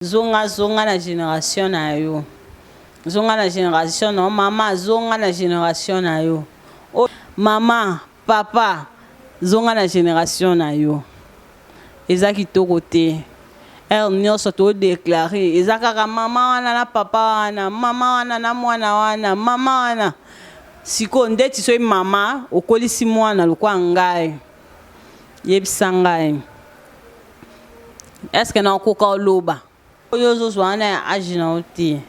Zonga zonga na generation na yo zonga na generation na yo mama zonga na generation na yo oh mama papa zonga na generation na yo eza kitoko te heure nyonso todeklare eza kaka mama wana na papa wana mama wana na mwana wana mama wana sikoyo ndeti soki mama okolisi mwana lokola ngai Yebisa ngai. Est-ce que na okoka oloba? Oyo ozo zwa wana ya age na yo te.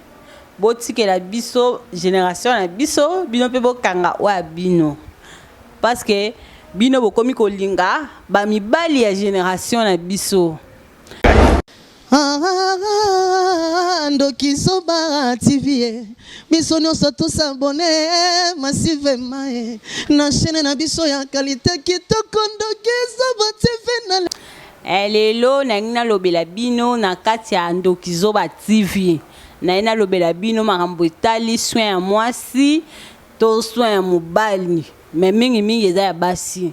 Bo tikela biso generation na biso, bino pe bo kanga oyo ya bino. Parce que bino bokomi kolinga ba mibali ya generation na biso. Ah, ah, ah, ndoki zoba tv eh. biso nyonso tosabone eh, masive mae eh. na chaine na biso ya kalite kitoko ndoki zoba tv na eh, lelo nalingi nalobela bino na kati ya ndoki zoba tv naye nalobela bino makambo etali soin ya mwasi to soin ya mobali me mingimingi eza ya basi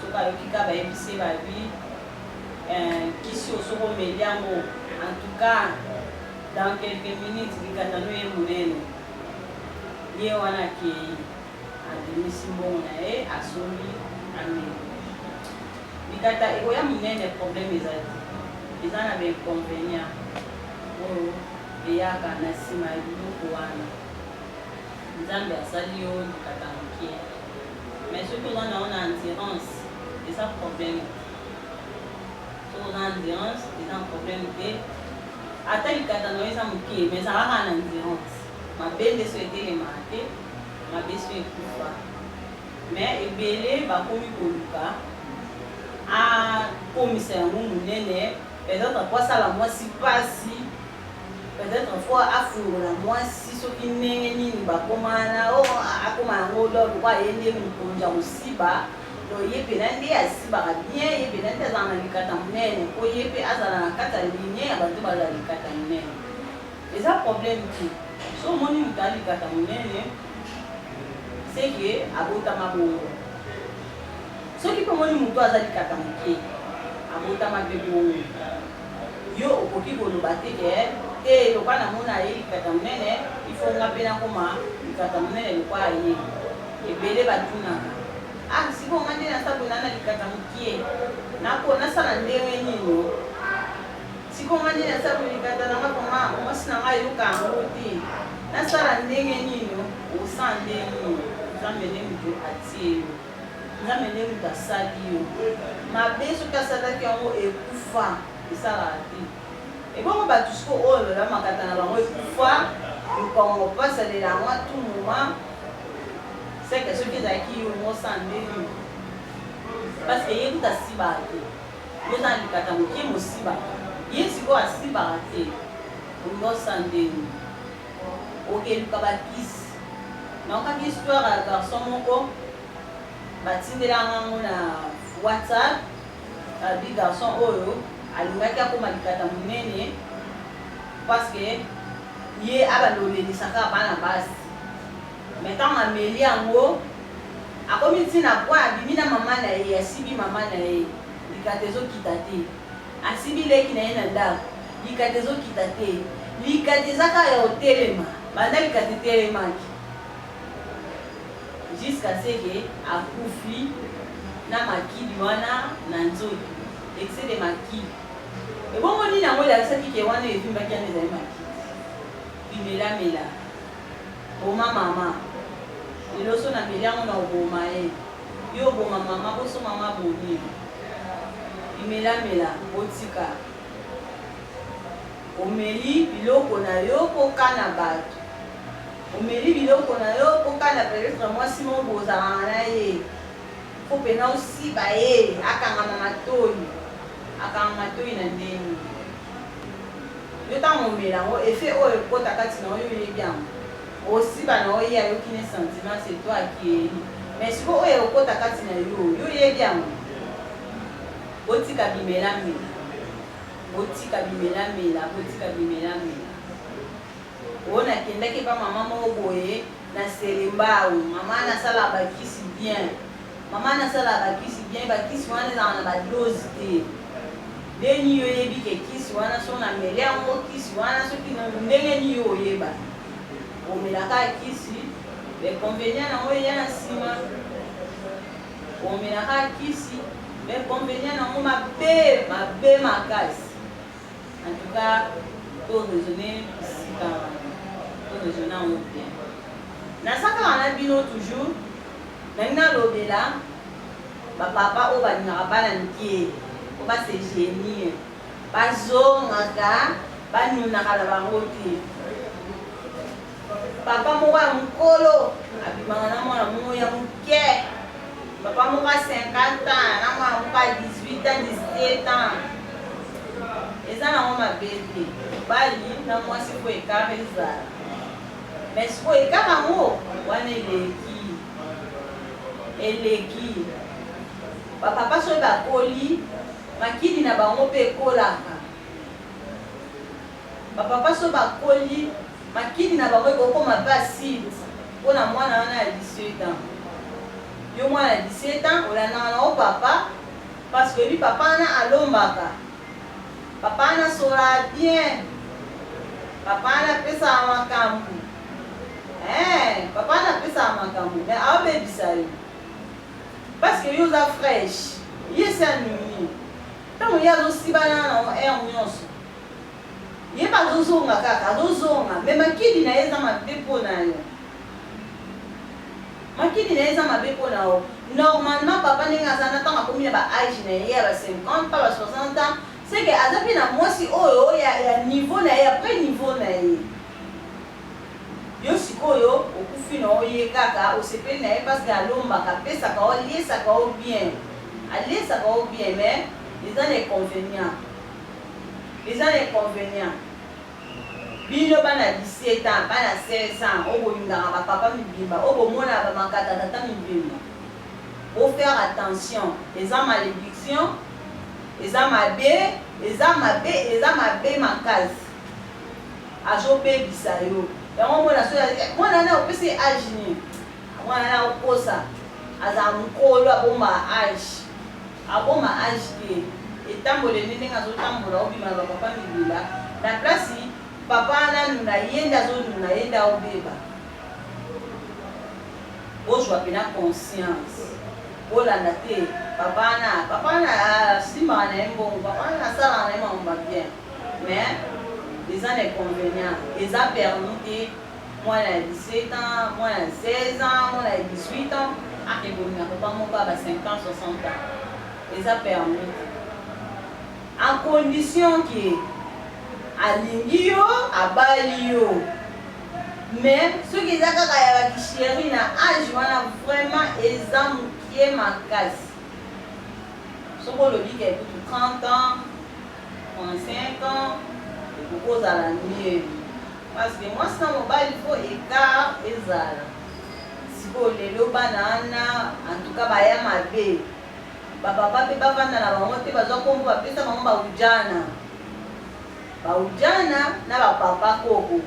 Soki ayoki kaka bayebisi ye ba lui eh kisi oyo soki omeli yango en tout cas dans quelques minutes likata no eye munene. Ye wana akeyi abimisi mbongo na ye asombi ameli. Likata ekoya munene problème eza te. Eza na ba inconvenients oyo eyaka na sima ya biloko wana. Nzambe asali yo likata mukie. Mais soki oza nango na endurance eza problème te soki oza na endurance eza problème te ata likata nayo eza moke mais zala kaka na endurance mabe nde so etelemaka te mabe so ekufa mais ebele bakomi koluka akomisa yango monene peut-etre po asala mwasi pasi Peut etre il faut afungola mwasi soki ndenge nini bakoma wana oh, akoma yango lor pourquoi aye nde mokonzi ya kosiba donc ye mpena nde asibaka bien ye mpena nde azala na likata monene mpo ye mpe azala na kati ya linie ya bato bazala likata monene eza problème te so omoni moto ya likata monene seke abotama bongo soki mpe omoni moto aza likata moke abotama mpe bongo Yo okoki koloba te ke, te lokola namona ye likata munene, il faut nga pe nakoma likata munene lokola ye. Ebele batunaka, ah sikoyo nga nde naza ko nana likata mukie, nako nasala ndenge nini oh? Sikoyo nga nde naza ko likata na nga vraiment mwasi na nga ayoka yango te, nasala ndenge nini oh? Oza nde nini? Nzambe nde mutu atie yo. Nzambe nde mutu asali yo mabe soki asalaki yango ekufa esalaka te ebongo batu siko oyo lola makata na bango ekufa mukongo pasi alela yango a tout moment seke soki ezalaki yo ngo sa nde yo parce que ye kutu asibaka te yo oza na likata mokie mosibaka ye sikoyo asibaka te ngo sa nde yo Oke luka ba kisi. Nayokaki histoire ya garçon moko batindela nga ngo na WhatsApp alobi garçon oyo alingaki akoma likata munene parce que ye abalolelisaka bana basi mais ntango ameli yango akomi ntina po abimi na mama na ye asibi mama na ye likata ezokita te Asimbi leki na ye na ndako. Likata ezokita te. Likata eza kaka ya kotelema. Banda likata etelemaki. Jusqu'à ce que akufi na makili wana na nzoto. Excès de makili. Ebongo nini yango elakisaki que wana evimbaki wana ezali makili? Bimelamela. Boma mama. Lelo so nameli yango nakoboma ye. Yo oboma maman bo so maman abomi yo bimela mela botika omeli biloko na yo po kana batu omeli biloko na yo po kana peut-etre mwasi moko bozalaka na ye faut pena osiba ye akangama matoyi akangama matoyi na ndenge yo tango omela yango effet oyo ekota kati na yo yo oyebi yango Osi bana yo ye ayoki ne sentiment c'est toi akieyi mais sikoyo oyo ekokota kati na yo yo oyebi yango? Botika bimela mela botika bimela mela botika bimela mela oh na kendaki epa maman moko boye na selembao maman na sala ba kisi bien maman na sala ba kisi bien ba kisi wana ezala na ba dose te deni yo oyebi ke kisi wana so na meli yango kisi wana soki ndenge ni yo oyeba Omela kaka kisi, b'inconvenients nango eya na sima. Omela kaka kisi, b'inconvenients nango mabe, mabe makasi. En tout cas, to raisonner bisika wana. To raisonner yango bien. Naza kaka na bino toujours, nalingi nalobela ba papa oyo balingaka bana mike, po ba se genir. Bazongaka, banunaka na bango te. Papa moko ya mokolo abimaka na mwana moko ya moke, papa moko ya 50 ans na mwana moko ya 18 ans, 17 ans. Eza nango mabe te, mobali na mwasi mpo ekare ezala, me sikoyo ekare yango wana eleki eleki bapapa soki bakoli Makidi na bango pe ekolaka. Ba papa soki bakoli, makidi na bango ekokoma pe acide po na mwana wana ya 18 ans. Yo mwana ya 17 ans olandaka na yo papa parce que oyebi papa wana alombaka, papa wana asololaka bien, papa wana apesaka makambu. Eeh papa wana apesaka makambu mais aobebisa yo. Parce que yo oza fraiche. Ye esi alingi. Tango ye azo siba na na ngo heure nionso. Ye pe azo zonga kaka, azo zonga. Mais makidi na ye eza mabe po na yo. Makidi na ye eza mabe po na yo. Normalement papa ndenge aza na tango akomi na ba age na ye ya ba 50 pas ba 60 ans, ce que aza pe na mwasi oyo ya niveau na ye, ya pre niveau na ye. Yo sikoyo okufi na yo ye kaka osepeli na ye parce que alombaka apesaka yo aliesaka yo bien aliesaka yo bien mais eza na econvenient eza na econvenient bino bana 17 ans bana 16 ans oyo bolingaka ba papa mibimba oyo bomonaka ba makata tata mibimba bo faire attention eza malediction eza mabe eza mabe eza mabe makasi. Azo bebisa yo yango omona soki eh, mwana wana opesi ye age nini mwana wana akokosa aza mukolo abomba age abomba age te etambole nde ndenge azotambola obima na bapapa mibila na place papa wana nuna ye nde azonuna ye nde aobeba bozwa pena conscience bolanda te papa wana papa wana asimbaka na ye mbongo papa wana asalaka na ye makambo mabien Mais eza na inconvenient eza permis te mwana ya 17 ans, mwana ya 16 ans, mwana ya 18 ans ake bomina papa moko ya ba 50 ans, 60 ans eza permis te a condition que alingi yo abali yo mais soki eza kaka ya bakisheri na age wana vraiment eza moke makasi soki olobi ke kutu 30 ans En cinq ans ekoki kozala mieux parce que mwasi na mobali fo ecart ezala sikoyo lelo bana wana en tout cas baya mabe bapapa mpe bavanda na bango te bazwa nkombo bapesa bango baujana baujana na bapapa koko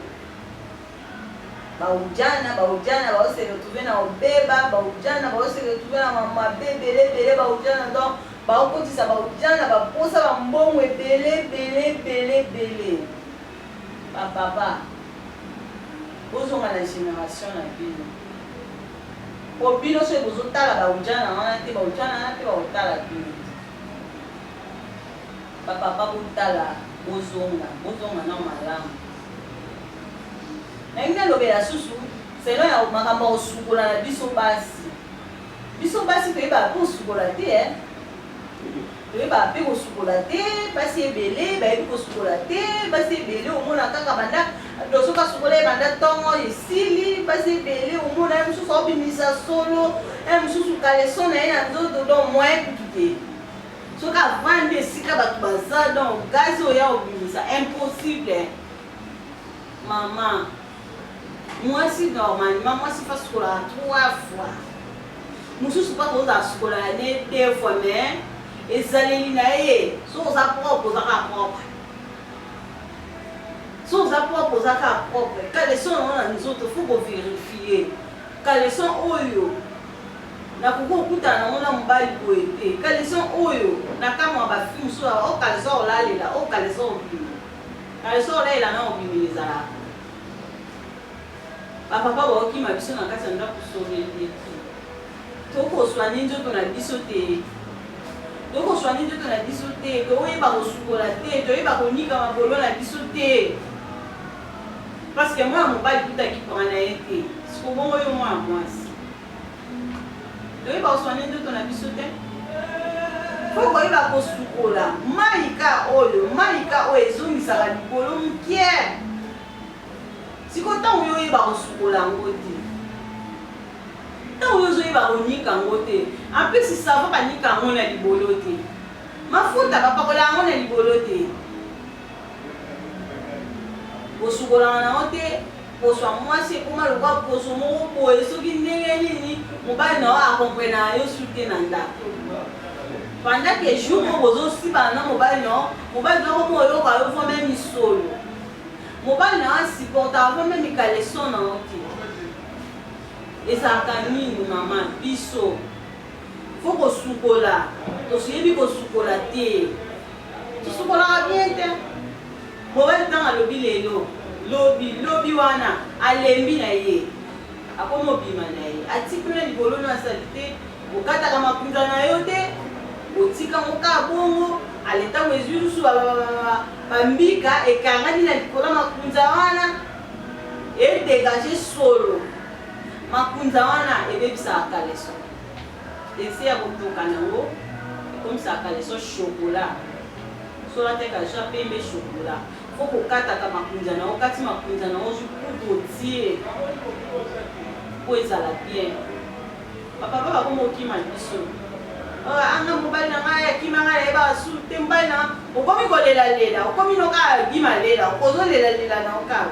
Ba udjana, ba udjana bazo se retrouver na obeba, ba udjana bazo se retrouver na ma mabe ebele ebele, ba udjana donc bazo kotisa ba udjana ba posa ba mbongo ebele ebele ebele ebele. Ba papa bozonga na generation na bino po bino soki bozo tala ba udjana wana te ba udjana wana pe bako tala bino te. Ba papa botala bozonga, bozonga nao malamu. Nalingi nalobela susu selon ya makambo ya kosukola na biso basi. Biso basi toyebaka mpe kosukola te eh. toyebaka mpe kosukola te basi ebele bayebi kosukola te basi ebele omona kaka banda doso kasukola ye banda ntongo esili basi ebele omona ye mosusu aobimisa solo ye mosusu kaleso na ye na nzoto don moyen kutu te Soki avandi esika batu baza donc gaz oya obimisa impossible maman mwasi normalement mwasi fa sukola 3 fois mosusu pa koza sukola ya ne 2 fois mais ezaleli na ye soki oza propre oza kaka propre soki oza propre oza kaka propre caleson yango na nzoto fo koverifie caleson oyo Nakoki kokutana nango na mobali boye te caleçon oyo nakamua ba fille mususu aloba oh caleçon ya kolalela oh caleçon ya kobima caleçon ya kolalela na ya kobimela ezalaka ba papa bakokima biso na kati ya ndaku soreleki tokoswani nzoto na biso te tokoswani nzoto na biso te toyeba kosukola te toyeba konika makolo na biso te parce que mwana mobali kuta kipanga na ye te sikobongo yo mwana mwasi toyeba koswane nzoto na biso te po koyeba kosukola maika oyo maika oyo ezongisaka likolo mokie siko ntango yo oyeba kosukola yango te ntango yo ozoyeba konika yango te ampesi savo banika yango na libolo te mafuta bapakola yango na libolo te Kosukolama na yo te, poso ya mwasi ekoma lokola poso moko boye, soki ndenge nini mobali na yo akomprenaka yo su te na ndako. Pendant que jour moko bozosibana na mobali na yo, mobali na yo akomi oyoka yo vraimen misolo. Mobali na yo asupportaka vraimen mikaleson na yo te. Ezalaka nini mama biso? Faut kosukola, toyebi kosukola te. Tosukolaka bien te. Morel tango alobi lelo lobi lobi wana alembi na ye akomi obima na ye ati kuna libolo na salite okataka makunza na yo te otika ngo ka bongo ale tango ezui lusu ba ba ba ba ba mbika ekangani na likolo makunza wana e degage solo makunza wana ebebisaka kaleso Ese ya kotoka nango ekomisaka caleçon chocolat soki olataki caleçon ya pembe chocolat faut kokataka makunza na yo okati makunza na yo ozwi kutu otie po ezala bien bapapa bakomi kokima biso ah, anga mobali na ngai akima ngai nayebaka su te mobali na okomi kolelalela okomi noka abima lela okozolelalela na yo kaka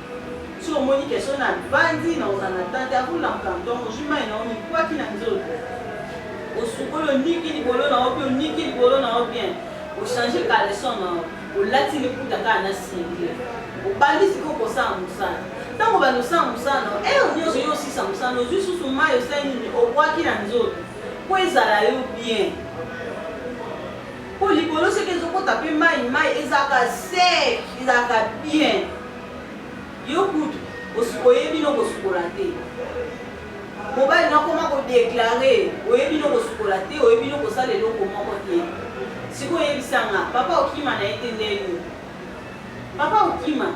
Soki omoni ke soki na vandi na kozala na temps te ako lamuka ntoma ozui mayi na yo mikwaki na nzoto osukoli oniki libolo na yo pe oniki libolo na yo bien o change caleçon na yo olati liputa kaka na cinglet obandi sikoyo kosala musala tango obanda kosala musala na yo heure nionso yo osilisa musala na yo ozui susu mayi osali nini obwaki na nzoto po ezala yo bien po libolo soki ezo kota pe mayi mayi ezalaka sec ezalaka bien. Yo kutu oyebi no kosukola te. Mobali nakoma ko declarer oyebi no kosukola te, oyebi no kosala eloko moko te. Sikoyo yebisa nga papa okima na ye te nde nini? Papa okima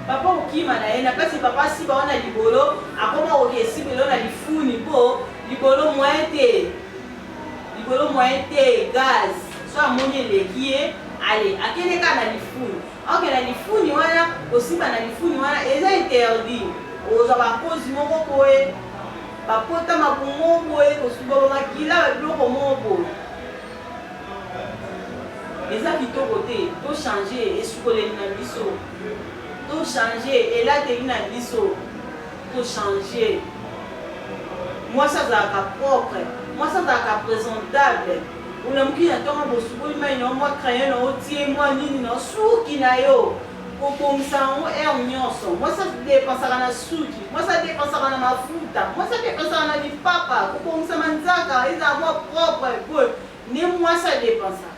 papa okima na ye na kati papa asiba wana libolo akoma kokesibelo na lifuni mpo libolo moyen te likolo moyen te gaz so amoni eleki ye ale akende kaka na lifuni ok na lifuni wana kosimba na lifuni wana eza interdit ozwa bakozi moko boye bapota makongo boye kosuba bamakila babiloko moko boye eza kitoko te tochange esukoleli na biso tochange elateli na biso Ko changer mwasi azalaka propre mwasi azalaka presentable olamuki na ntongo bosukoli mai na yo mwa crayon na yo tie mwa nini na suki na yo kobongisa yango aire nyonso mwasi adepensaka na suki mwasi adepensaka na mafuta mwasi adepensaka na lipapa kobongisa manzaka ezala mwa propre boye nde mwasi adepensaka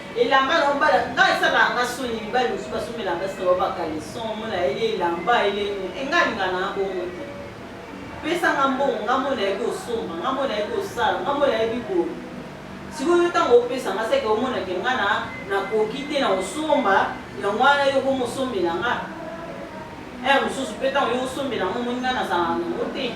Elamba na obala nga esala nga soni mibali mosusu basombela basi na baba caleçon mona ele elamba ele e nga linga na bongo te pesa nga mbongo nga mona yebi osomba nga mona yebi osala nga mona yebi boye sikoyo ntango opesa nga seke omona ke nga na nakoki te na osomba yango wana yo komi osombela nga ere mosusu mpe ntango yo osombela nga omoni nga nazala nango te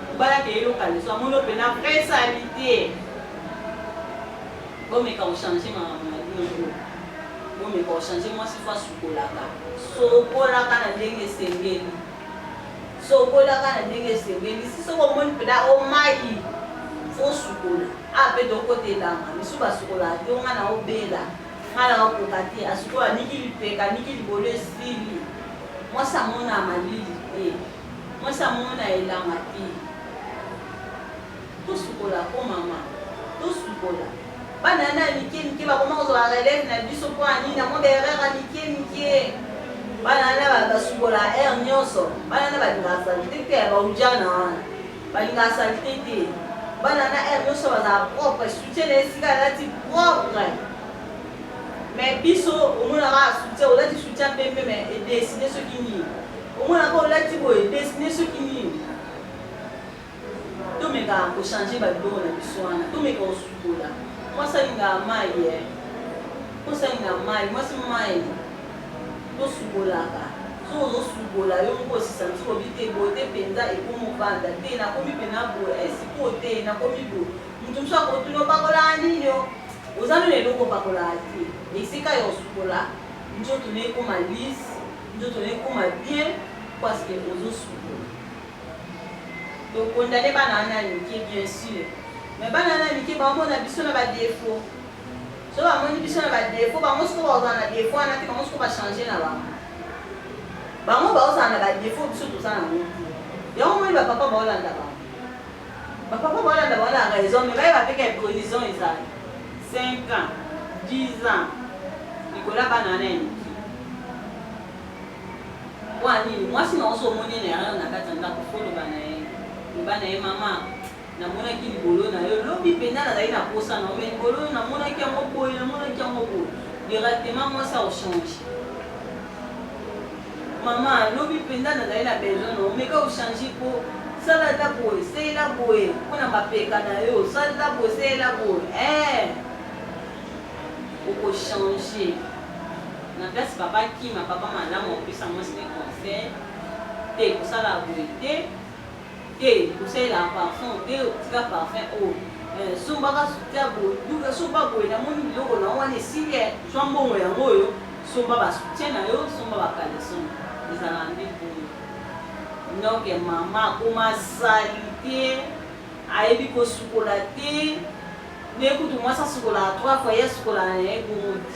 Mobali akeyi yo kaleso amoni yo pena vrai salite bomeka ko changer makambo na bino nde bomeka ko changer mwasi fo asukolaka sokolaka na ndenge esengeli sokolaka na ndenge esengeli si soki omoni pena omayi fo sukola ape tokota elanga misu basukolaka te onga na obela nga na okoka te asukola niki lipeka niki libolo esili mwasi amona malili te Mwasi amona elanga te. Tosukola ko mama. Tosukola. Bana wana ya mike mike bakoma kozwa relève na biso mpo ya nini? Na mwa ba erreur ya mike mike. Bana wana basukola heure nyonso. Bana wana balingaka salite te ya baujana wana. Balingaka salite te. Bana wana heure nyonso bazala propre. Soutien na esika alati propre. Mais biso omonaka soutien, olati soutien pembe mais edesine soki nini. Omonaka olati boye destine soki nini? Tomeka ko changer ba biloko na biso wana tomeka kosukola mwasi alingaka mayi eh mwasi alingaka mayi mwasi mayi tosukolaka soki ozosukola yo moko osisanti obi te boye te mpenza ekomi ovanda te nakomi mpena boye eh, sikoyo te nakomi boye moto mosusu akotuna opakolaka nini o oza nini eloko opakolaka te esika ya kosukola nzoto na ekoma lise Nzoto nayo ekoma bien parce que ozo sukola. To condamner bana wana ya mike bien sûr. Mais bana wana ya mike ba mona biso na ba défauts. So ba moni biso na ba défauts, bango siko ba ozana défaut wana te, bango siko ba changer na bango. Bango ba ozana na ba défauts biso toza na ngo te. Yango moni ba papa ba olanda bango. Ba papa bolanda baza na raison mais bayeba pe ke prison ezali 5 ans 10 ans likolo ya bana wana ya mike po ya nini mwasi na oso omoni ye na erreur na kati ya ndako fo loba na ye loba na ye mama namonaki libolo na yo lobi mpenza nazali na posa na yo mais libolo oyo namonaki yango boye namonaki yango boye directement mwasi akochange Maman lobi penza nazali na besoin na yo meka o changer po sala ata boye seyela boye po na mapeka na yo sala ata boye seyela boye eeh oko changer na place papa akima papa malamu apesa mwasi ne conseil te kosala boye te te kosalela parfum te tika parfum oyo eh, sombaka soutien boduka somba boye namoni biloko na wana esili eh, zwa mbongo yango oyo somba basoutien na yo somba bakaleson ezala nde boye noke mama akoma sali te ayebi kosukola te nde kutu mwasi asukolaka trois fois ye asukolaka na ye bomodi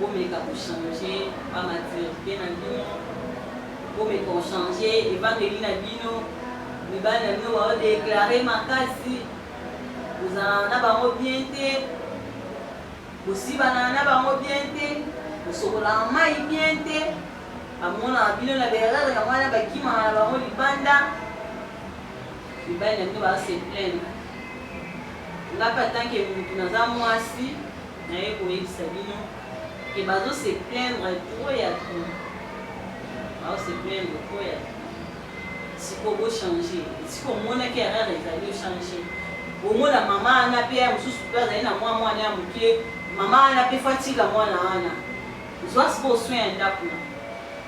Bomeka ko changer ba maturite na bino, bomeka ko changer evandeli na bino, mibali na bino bao declare makasi, bozalana na bango bien te, bosibana na bango bien te, bosokolaka mai bien te, bamonaka bino na berere yango wana bakimaka na bango libanda, mibali na bino bao se plaindre nga mpe atanke mutu naza mwasi Naye koyebisa bino que bazo se plaindre trop ya trop bazo se plaindre trop ya trop sikoyo bo changer esika omonaki erreur ezali o changer omona maman wana pe ya mosusu pe azali na mwa mwana ya moke maman wana pe fo atika mwana wana zwa sikoyo soin ya ndaku na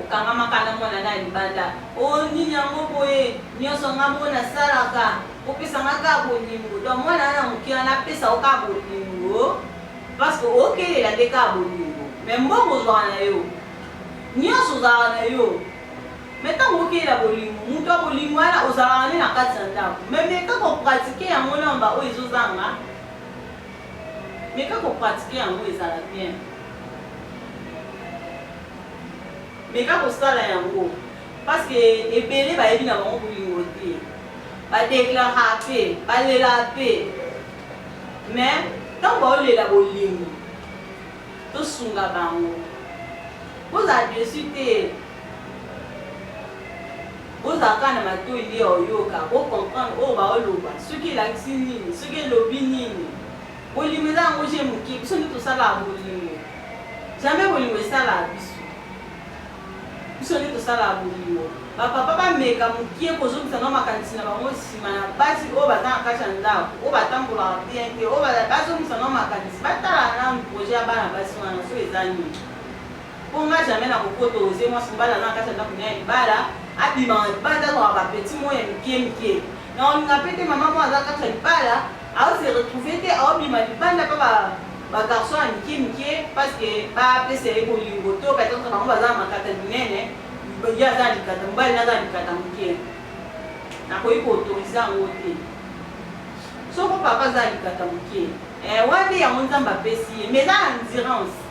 Okangamaka na mwana na libanda oh nini yango boye nionso nga moko na salaka opesa nga ka bolingo donc mwana na moke wana apesa yo ka bolingo parce que okelela nde ka bolingo mais mbongo ozwaka na yo nionso ozalaka na yo mais ntango okeyela bolingo moto ya bolingo wana ozalaka nde na kati ya ndako mais meka kopratike yango namba oyo ezozanga Meka ko pratiquer yango ezala bien. Meka kosala yango parce que ebele bayebi na bango bolingo te. Ba declara pe, balela pe. Mais ntango baolela bolingo tosunga bango. Bozala deçu te. Bozala kaka na matoyi nde ya koyoka, bo comprendre oyo baoloba, soki elakisi nini, soki elobi nini. Bolingo eza yango je moke, biso nde tosalaka bolingo. Jamais bolingo esalaka biso. Biso nde tosalaka bolingo. Ba papa bameka moke kozongisa nao makanisi na bango nsima na basi oyo baza na kati ya ndako, oyo batambolaka bien te, oyo bazongisa nao makanisi, batala nanu projet ya bana basi wana soki eza nini. Po nga jamais na ko ko tose mwasi mobali aza na kati ya ndaku naye ya libala abima na libanda azwaka ba petit mots ya mikie mikie na ko linga pe te maman moko aza na kati ya libala azo se retrouver te azo bima libanda pa ba ba garçon ya mikie mikie parce que ba pesa ye bolingo to peut etre bango baza na makata minene ye aza na likata mobali naye aza na likata mukie na koki ko autoriser yango te soko papa aza na likata mukie eh wana nde yango nzambe apesi ye mais eza na endurance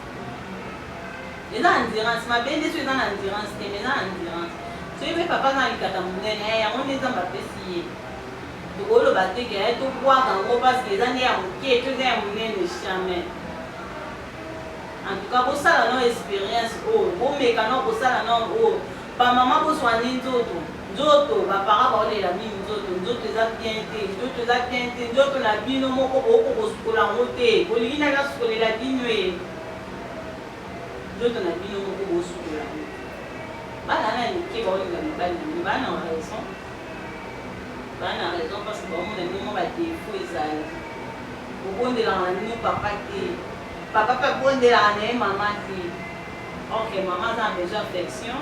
eza endurance mabe nde so eza na endurance te mais eza na endurance soki mpe papa aza na likata monene eh, yango nde nzambe apesi ye tokoloba te ke eh, tobwaka yango parceke eza nde ya moke to eza ya monene jamais en tout cas bosala no experience oyo oh, bomeka no kosala no oyo oh. bamama boswani nzoto Nzoto ba parents bao lela mingi nzoto nzoto eza bien te nzoto eza bien te nzoto na bino moko bo ko ko sukola yango te bolingi nani asukolela binoee nzoto na bino moko bo sukola yango bana wana ya mike bao lela mibali na bino bana na raison bana na raison parce que bao mona bino mwa ba defaut ezali bobondelaka na bino papa te papa pe abondelaka na ye mama te ok mama aza na besoin affection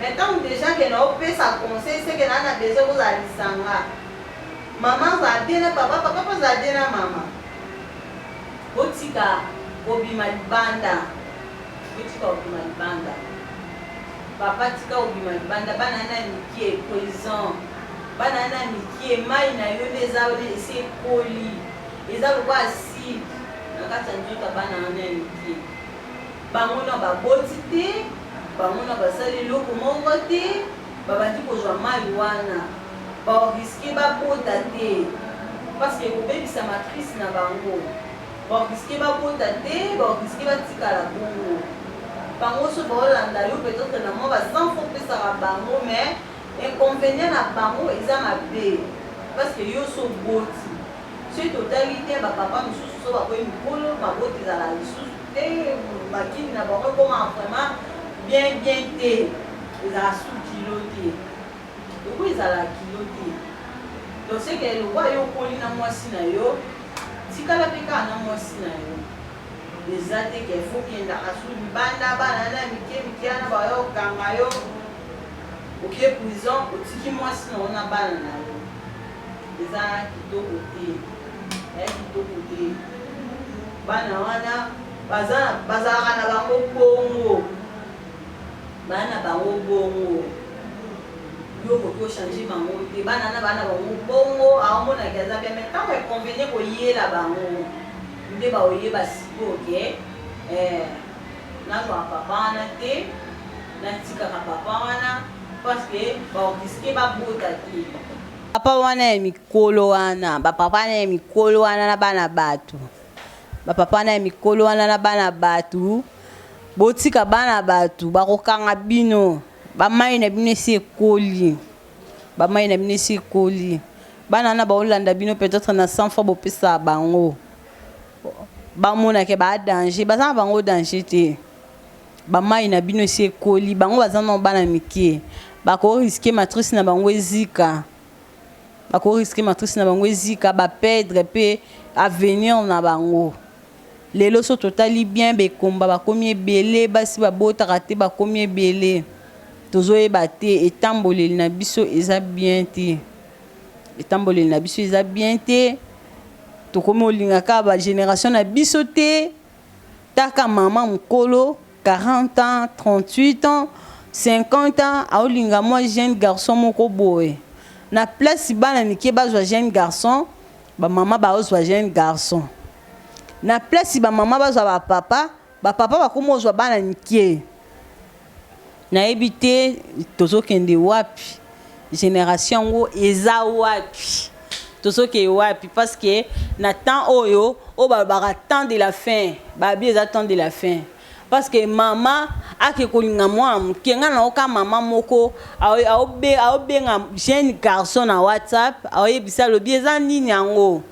Mais tangu dejà ke nao pesa conseil ce ke naa na besoin kozala lisanga. Maman azala bien na papa, papa pe azala bien na maman. Botika kobima libanda, botika kobima libanda. Papa tika kobima libanda, bana na mikie, poison. Bana na mikie, mayi na yo nde eza esi ekoli. Eza lokola acide na kati ya nzoto ya bana wana ya mikie. Bango na baboti te, bango na basali eloko moko te, babandi kozwa mayi wana, ba risquer babota te parce que ekobebisa matrice na bango, ba risquer babota te, ba risquer batikala bongo, bango soki baolanda yo peut etre na mua ba cent francs opesaka bango mais inconvenient na bango eza mabe parce que yo osi oboti. Soki totali te ba papa misusu soki bakomi mikolo mabota ezalaka lisusu te ba kingi na bango ekomaka vraiment bien bien te ezalaka susu kilo te lokola ezalaka kilo te donc ce que lokola yo okoli na mwasi na yo tikala pe kaka na mwasi na yo eza te ke faut okendaka susu libanda bana na mike mike wana bayo kanga yo oke prison otiki mwasi na yo na bana na yo Eza kitoko te eh kitoko te bana wana baza bazalaka na bango bongo bana na bango bongo yo okoki ochange bango te bana na bana bango bongo aomonaki aza bien mais ntango econvenie koyela bango nde baoyeba sikoyo ke eh, Nazwaka papa wana te, natikaka papa wana parce que ba risque babota te. Papa wana ya mikolo wana, ba papa wana ya mikolo wana na bana batu, ba papa wana ya mikolo wana na bana batu, botika bana batu bakokanga bino, ba mai na bino esi ekoli, ba mai na bino esi ekoli, bana wana baolanda bino peut-etre na 100 fois bopesa bango. Ba mona ke ba danger baza na bango danger te ba mayi na bino esi ekoli bango baza nano bana mike ba ko risque matrice na bango ezika ba ko risque matrice na bango ezika ba pedre pe avenir na bango lelo so totali bien ba ekomba ba komi ebele basi ba botaka te ba komi ebele tozo yeba te etamboleli na biso eza bien te. Etamboleli na biso eza bien te tokomi olinga ka ba generation na biso te taka maman mukolo 40 ans 38 ans 50 ans aolinga mwa jeune garçon moko boye na place bana mikie bazwa jeune garçon ba maman baozwa jeune garçon na place ba maman bazwa ba papa Ba papa bakomi kozwa bana mike nayebi te tozokende wapi generation yango eza wapi tozokee wapi parce que na temps oyo oyo balobaka temps de la fin babi eza temps de la fin parce que mama ake kolinga mwana moke ngai nayoka mama moko aobenga jeune garçon na whatsapp aoyebisa alobi eza nini yango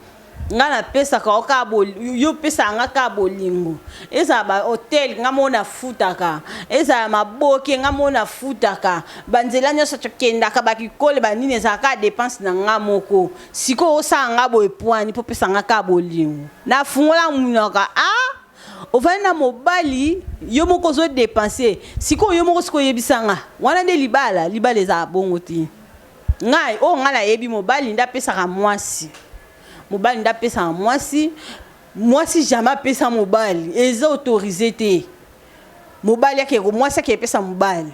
Nga na pesaka yo kaka bo yo opesaka nga kaka bolingo ezala ba hotel nga moko na futaka ezala maboke nga moko na futaka ba nzela nionso to kendaka ba kikole ba nini ezala kaka depense na nga moko sikoyo osala nga boye pua nini po opesa nga kaka bolingo na fungola munoko ah ovandi na mobali yo moko ozo depense sikoyo yo moko sikoyo yebisa nga wana nde libala libala ezala bongo te. Ngai oyo ngai nayebi mobali nde apesaka muasi mobali nde apesaka muasi muasi jamais apesa mobali eza autorise te mobali ake muasi ake epesa mobali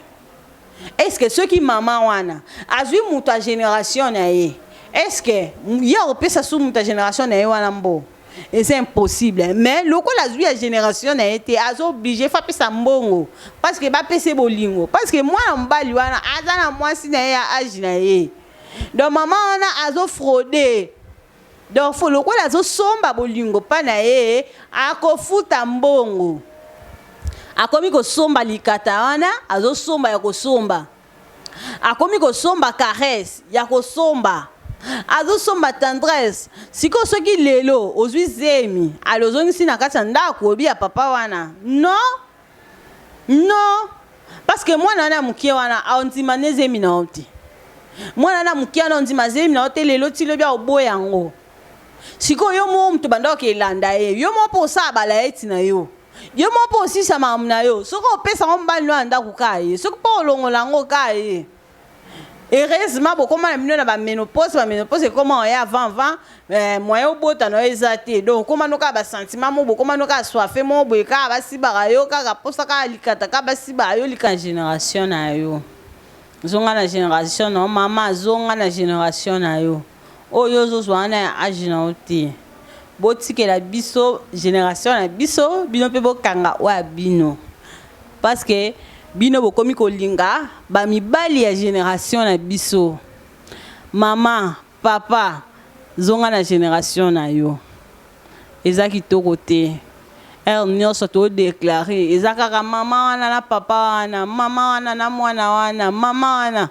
eske soki mama wana azwi moto ya generation na ye eske ye akopesa su moto ya generation na ye wana mbo eza impossible mais lokola azwi ya génération na ye te aza oblige fa apesa mbongo parce que bapese bolingo parce que mwana mobali wana aza na mwasi na ye ya age na ye donc mama wana azofraude donc fo lokola azosomba bolingo mpa na ye akofuta mbongo akomi kosomba likata wana azosomba ya kosomba akomi kosomba caresse ya kosomba azosomba tendresse sikoyo soki lelo ozwi zemi ale ozongisi na kati ya ndako oyebi ya papa wana non non parceke mwana wana ya moke wana aondima nde zemi na yo te mwana wana moke wana ondima zemi na yo te lelo ti lobi aoboya yango sikoyo yo moko moto bandaki elanda ye yo moko mpo osala balaeti na yo yo moko mpo osisa makambo na yo soki opesa yango mobali no ya ndako kaa ye soki mpo olongola yango kaa ye heureusement bokoma na bino na baménopause baménopause ekoma oya avant avant eh, moyen obota na yo eza te donc okoma no kaka basentiment mo bokoma no kaka soife mo boye kaka basibaka yo kaka mposa kaka likata kaka basibaka yo lika génération na yo zonga na génération na yo mama zonga na génération na yo Oyo ozo zua wana ya age na yo te. Bo tikela biso generation na biso bino pe bo kanga oyo ya bino. Parce que bino bo komi ko linga ba mibali ya generation na biso. Maman, papa zonga na generation na yo. Eza kitoko te. Heure nioso to declare eza kaka maman wana na papa wana, maman wana na mwana wana, maman wana.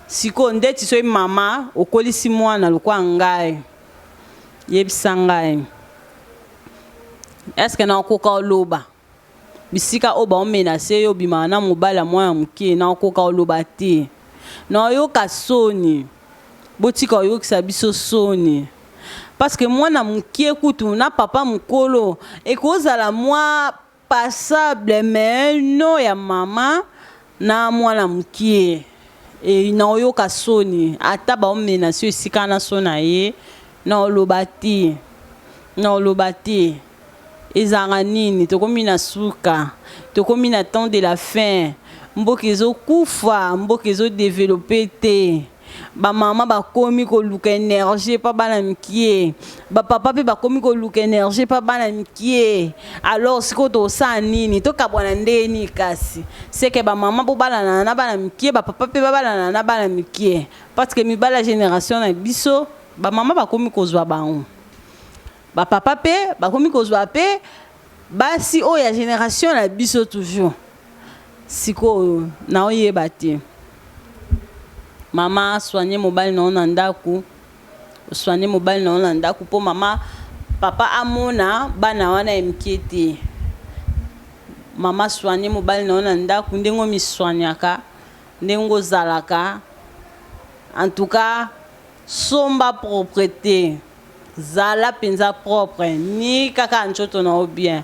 Sikoyo ndeti soki mama okolisi mwana lokola ngai, yebisa ngai, est ce que nakoka oloba bisika oyo baomenase yo obimaka na mobali ya mwana moke? Nakoka oloba te, naoyoka soni. Botika oyokisa biso soni parce que mwana moke kutu na papa mokolo ekozala mwa passable mais nom ya maman na mwana mukie et nao yoka soni ata bao menace yo esika wana soni na ye nao loba te nao loba te ezalaka nini tokomi na suka tokomi na temps de la fin mboka ezo kufa mboka ezo developpe te. ba mama bakomi koluka energie epa bana mikie ba papa mpe bakomi koluka energie epa bana mikie alors sikoyo tosala nini tokabwana ndenge nini kasi seke ba mama bobalanana na bana mikie ba papa mpe babalanana na bana mikie parce que mibali ya generation na biso ba mama bakomi kozwa bango ba papa mpe bakomi kozwa mpe basi oyo ya generation na biso toujours Sikoyo nao yeba te. Mama soigner mobali na yo na ndaku soigner mobali na yo na ndaku po mama papa amona bana wana ya mike te mama soigner mobali na yo na ndaku ndenge omi soignaka ndenge ozalaka en tout cas somba propreté zala mpenza propre ni kaka ncoto na yo bien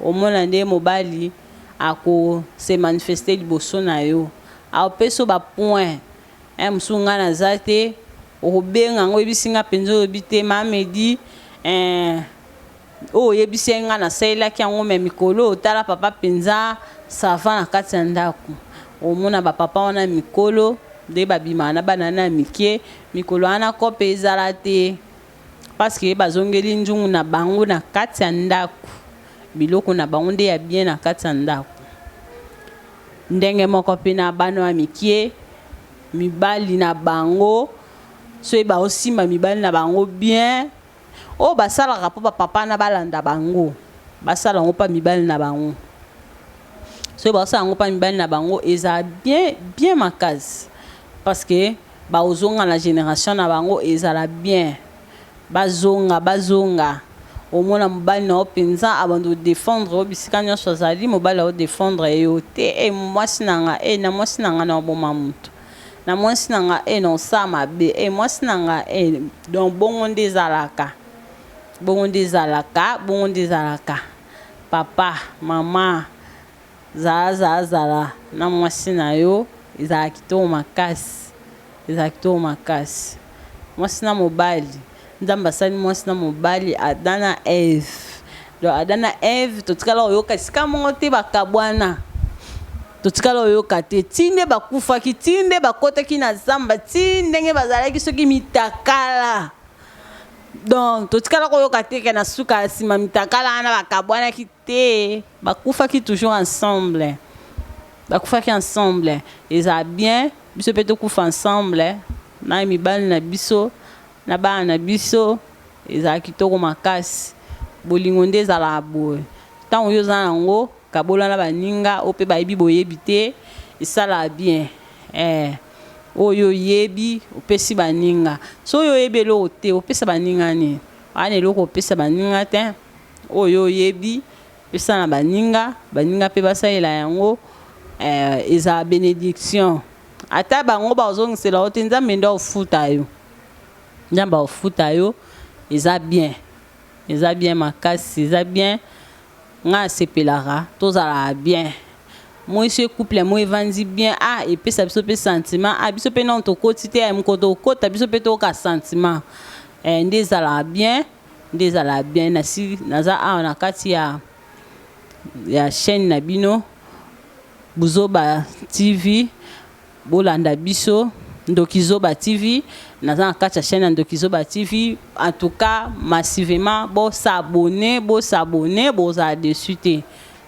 omona nde mobali ako se manifester liboso na yo apesa yo ba points hein mosusu nga naza te okobenga nga oyebisi nga penza olobi te ma Medi eh oyo oyebisaki ngai nasalelaki yango me mikolo oyo tala papa mpenza sava na kati ya ndako omona bapapa wana mikolo nde babimaka na bana na ya mike mikolo wana kope ezala te Parce que bazongeli nzungu na bango na kati ya ndako. Biloko na bango nde ya bien na kati ya ndako. Ndenge moko mpe na bana ya mikie, mibali na bango soki baosimba mibali na bango bien, oyo basalaka mpo ba papa na balanda bango, basala yango mpa mibali na bango. Soki baosala yango mpa mibali na bango, ezala bien, bien makasi. Parce que. Ba ozonga na generation na bango ezala bien bazonga bazonga omona mobali na yo penza abanda ko defendre yo bisika nionso azali mobali azo defendre yo te eh muasi na nga eh na muasi na nga nao boma mutu na muasi na nga eh nao sala mabe eh muasi na nga eh donc bongo nde ezalaka bongo nde ezalaka bongo nde ezalaka papa maman Zala zala zala na mwasi na yo ezalaka kitoko makasi ezalaka kitoko makasi mwasi na mobali nzambe asali mwasi na mobali Adam na Eve donc Adam na Eve totikala koyoka esika moko te bakabwana totikala koyoka te ti nde bakufaki ti nde bakotaki na zamba ti ndenge bazalaki soki mitakala donc totikala koyoka te ke na suka nsima mitakala wana bakabwanaki te Bakufaki toujours ensemble bakufaki ensemble eza bien biso pe tokufa ensemble na mibali na biso na bana na biso ezala kitoko makasi bolingo nde ezalaka boye tango yo oza nango kabola na baninga oyo pe bayebi boyebi te esalaka bien eh oyo oyebi opesi baninga soki oyebi eloko te opesa baninga nini wana eloko opesa baninga te. Oyo oyebi pesa na baninga, baninga pe basalela yango eh, ezala benediction ata bango bazongisela yo te nzambe nde akofuta yo, nzambe akofuta yo eza bien, eza bien makasi, eza bien nga nasepelaka tozalaka bien moi ce couple moi evandi bien ah epesa biso pe sentiment ah biso pe nanu tokoti te eh mokolo tokokota biso pe toyoka sentiment eh nde ezalaka bien. nde ezala bien nasi naza awa na kati ya ya chaine na bino buzoba TV bolanda biso ndoki zoba TV naza na kati ya chaine ya ndoki zoba TV en tout cas massivement bo s'abonner bo s'abonner bozala deçu te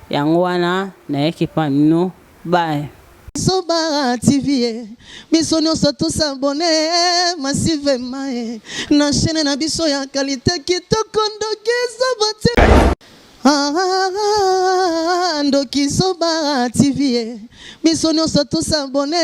yango wana nayaki epa bino Bye. Zoba TV eh, biso nionso to s'abonner eh, massivement eh, na chaîne na biso ya qualité kitoko ndoki zoba TV. Ah, ah, ah, ndoki zoba TV eh, biso nionso to s'abonner